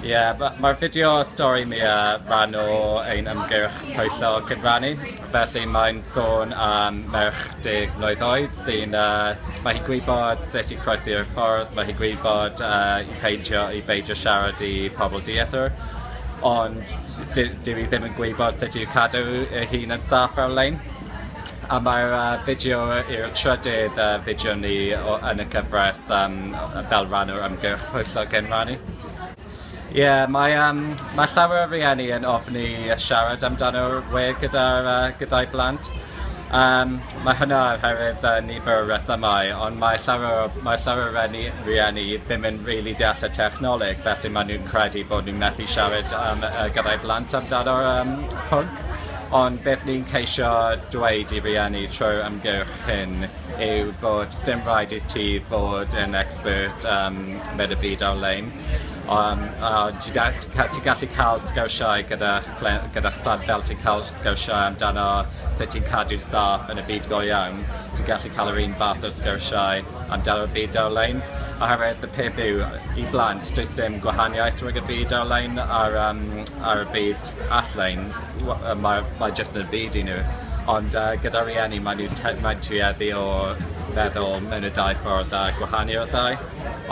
Ie, yeah, mae'r fideo stori mi a rhan o ein ymgyrch pwyllo cyfrannu. Felly mae'n sôn am merch deg mlynedd oed sy'n... Uh, mae hi gwybod sut i croesi'r ffordd, mae hi gwybod uh, i peidio, i beidio siarad i pobl diethr, ond dwi ddim yn gwybod sut i'w cadw ei hun yn saff ar-lein. A mae'r uh, fideo i'r trydydd uh, fideo ni o, yn y cyfraith um, fel rhan o'r ymgyrch pwyllo cyn rannu. Ie, yeah, mae, um, mae llawer o rieni yn ofni siarad amdano'r we gyda'r uh, gyda'i blant. Um, mae hynna oherwydd uh, nifer o rethymau, ond mae llawer, o, mae llawer o rieni, rieni ddim yn rili really deall y technoleg, felly maen nhw'n credu bod nhw'n methu siarad um, uh, gyda'i blant amdano'r um, pwnc. Ond beth ni'n ceisio dweud i rieni trwy'r ymgyrch hyn yw bod sdim rhaid i ti fod yn expert um, mewn y byd ar-lein. Um, a ti, da, ti gallu cael sgyrsiau gyda'ch gyda plant fel ti'n cael sgyrsiau amdano sut ti'n cadw saff yn y byd go iawn. Ti'n gallu cael yr un fath o sgyrsiau amdano'r byd ar-lein. Oherwydd y peth yw, i blant, does dim gwahaniaeth rhwng y byd ar-lein a'r, um, a'r byd all-lein. Mae mae jyst yn byd i nhw. Ond yy gyda rhieni mae nhw te- mae'n tueddu o feddwl mewn y dau ffordd a gwahanu o'r ddau.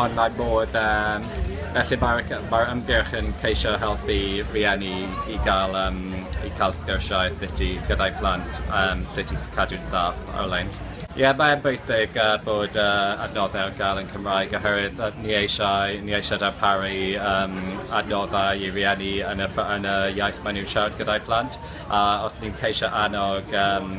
Ond mae modd yym felly mae'r c- mae'r ymgyrch yn ceisio helpu rhieni i ga'l yym i ca'l sgyrsiau sut i gyda'i plant yym sut i s- cadw'n saff ar-lein. Ie, mae'n bwysig bod yr adnoddau ar gael yn Cymraeg oherwydd ni eisiau, ni eisiau darparu um, adnoddau i rieni yn y, yn y iaith maen nhw'n siarad gyda'i plant a os ni'n ceisio annog um,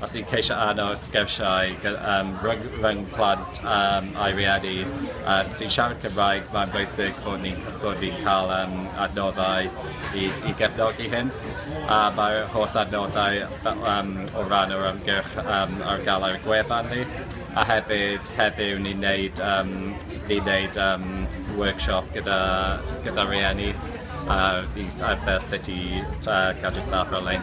os ni'n ceisio anno sgyrsiau um, rhwng, rhwng plant um, a'i rieni um, sy'n siarad Cymraeg, mae'n bwysig bod ni'n ni cael um, adnoddau i, i gefnogi hyn. A mae'r holl adnoddau Yym o ran yr ymgyrch yym ar gael gwefan ni a hefyd heddiw ni'n neud yym ni'n neud yym workshop gyda gyda rhieni ar is- ar fel sut i yy cadw staff ar-lein.